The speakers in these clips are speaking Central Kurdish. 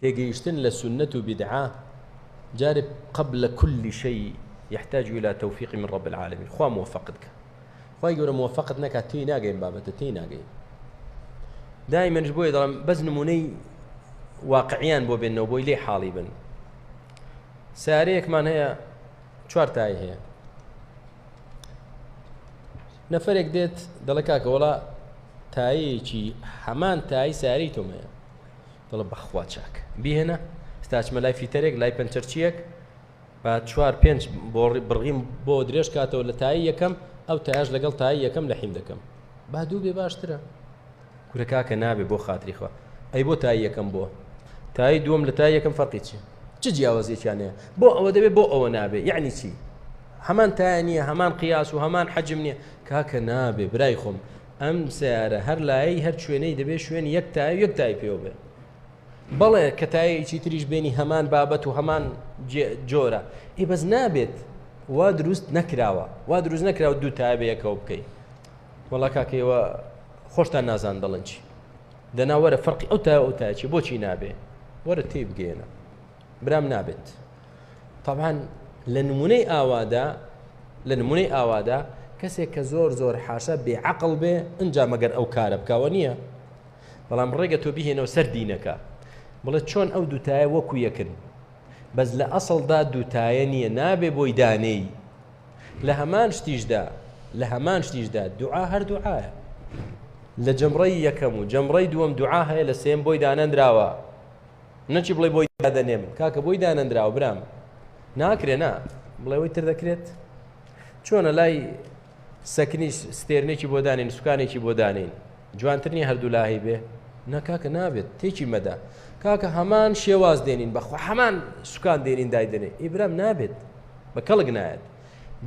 تێگەیشتن لە سوننەت و بیدعە جارێ قبل کل شی یحتاج الی توفیق من رب العالمین خوا موفقت کە خوای گەورە موفقت نەکات تێی ناگەین بابەتە تێی ناگەین دایمەنش بۆی دەڵم بەس نمونەی واقعیان بۆ بێنەوە بۆی لێ حاڵی بن سارەیەکمان هەیە چوار تای هەیە نەفرێک دێت دەڵێ کاکە وڵا تایەکی هەمان تای ساری تۆمەیە دەڵێ بەخوا چاک. بیهێنە ئیستا ئەچمە لای فیتەرێک لای پەنچەرچییەک با چوار پێنج بۆڕی بڕغیم بۆ درێژ کاتەوە لە تایی یەکەم ئەو تایش لەگەڵ تایی یەکەم لە حیم دەکەم با دوو بێ باشترە کورە کاکە نابێ بۆ خاتری خوا ئەی بۆ تایی یەکەم بووە تایی دووەم لە تایی یەکەم فەرقی چی چ جیاوازیەکیان هەیە بۆ ئەوە دەبێ بۆ ئەوە نابێ یعنی چی هەمان تایە نییە هەمان قیاس و هەمان حەجم نییە کاکە نابێ برای خۆم ئەم سەیارە هەر لایەی هەر شوێنەی دەبێ شوێنی یەک تایە یەک تای پێوە بێ بەڵێ کە تایەکی تریش بێنی هەمان بابەت و هەمان جۆرە ئی بەس نابێت وا دروست نەکراوە وا دروست نەکراوە دوو تایە بەیەکەوە بکەیت وەڵا کاکەیەوە خۆشتان نازان دەڵنچی دەنا وەرە فەرقی ئەو تا ئەو تاچی بۆچی نابێ وەرە تێی بگەێنە برام نابێت طبعاان لە نمونەی ئاوادا لە نمونەی ئاوادا کەسێک کە زۆر زۆر حاشا بێعقل بێ ئەجا مەگەر ئەو کارە بکەوە نییە بەڵام ڕێگە تۆ بهێنەوە سەر دینەکە بڵێ چۆن ئەو دوتایە وەکو یەکن بەس لە ئەسڵدا دوتایە نییە نابێ بۆی دانێی لە هەمان شتیشدا لە هەمان شتیشدا دوعا هەردوعاە لە جەمڕی یەکەم و جەمڕی دووەم دوعا هەیە لە سێم بۆی دانەنراوە نەچی بڵێ بۆی دادەنێم کاکە بۆی دانەندراوە برام ناکرێ نا بڵێەوەی تر دەکرێت چۆنە لای سەکنی ستێرنێکی بۆ دانین سوکانێکی بۆ دانین جوانترنی هەردوو لاهی بێ نەکاکە نابێت تێکی مەدا کاکە هەمان شێواز دێنین بەخوا هەمان سوکان دێنین دایدنێ ئیبرام نابێت بە کەڵک نایەت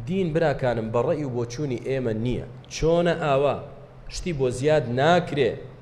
دین براکانم بەڕێی و بۆچوونی ئێمە نییە چۆنە ئاوا شتی بۆ زیاد ناکرێ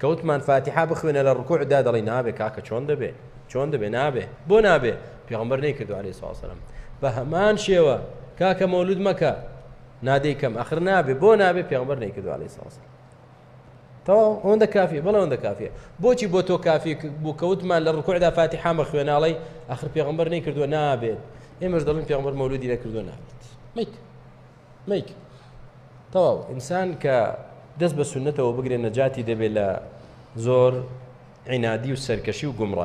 کە وتمان فاتیحە بخوێنە لە ڕکوع دا دەڵی نابێ کاکە چۆن دەبێ چۆن دەبێ نابێ بۆ نابێ پێغمبەر نەی کردو عليه ساسەرم بە هەمان شێوە کاکە مەولود مەکە نادەی کەم ئەخر نابێ بۆ نابێ پێغمبەر نەی کردو عليه ساسەرم تەواو ئەوەندە کافی بەڵێ ئەوەندە کافیە بۆچی بۆ تۆ کافی بوو کەوتمان لە ڕکوعدا فاتی حامە خوێناڵی ئەخر پێغمبەر نەی کردووە نابێت ئێمەش دەڵین پێغمبەر مەولودی نەکردووە نابێت میت میک تەواو ئینسان کە دەست بە سنتەوە بگرێن نەجاتی دەبێت لە زۆر عینادی و سەرکەشی و گومڕای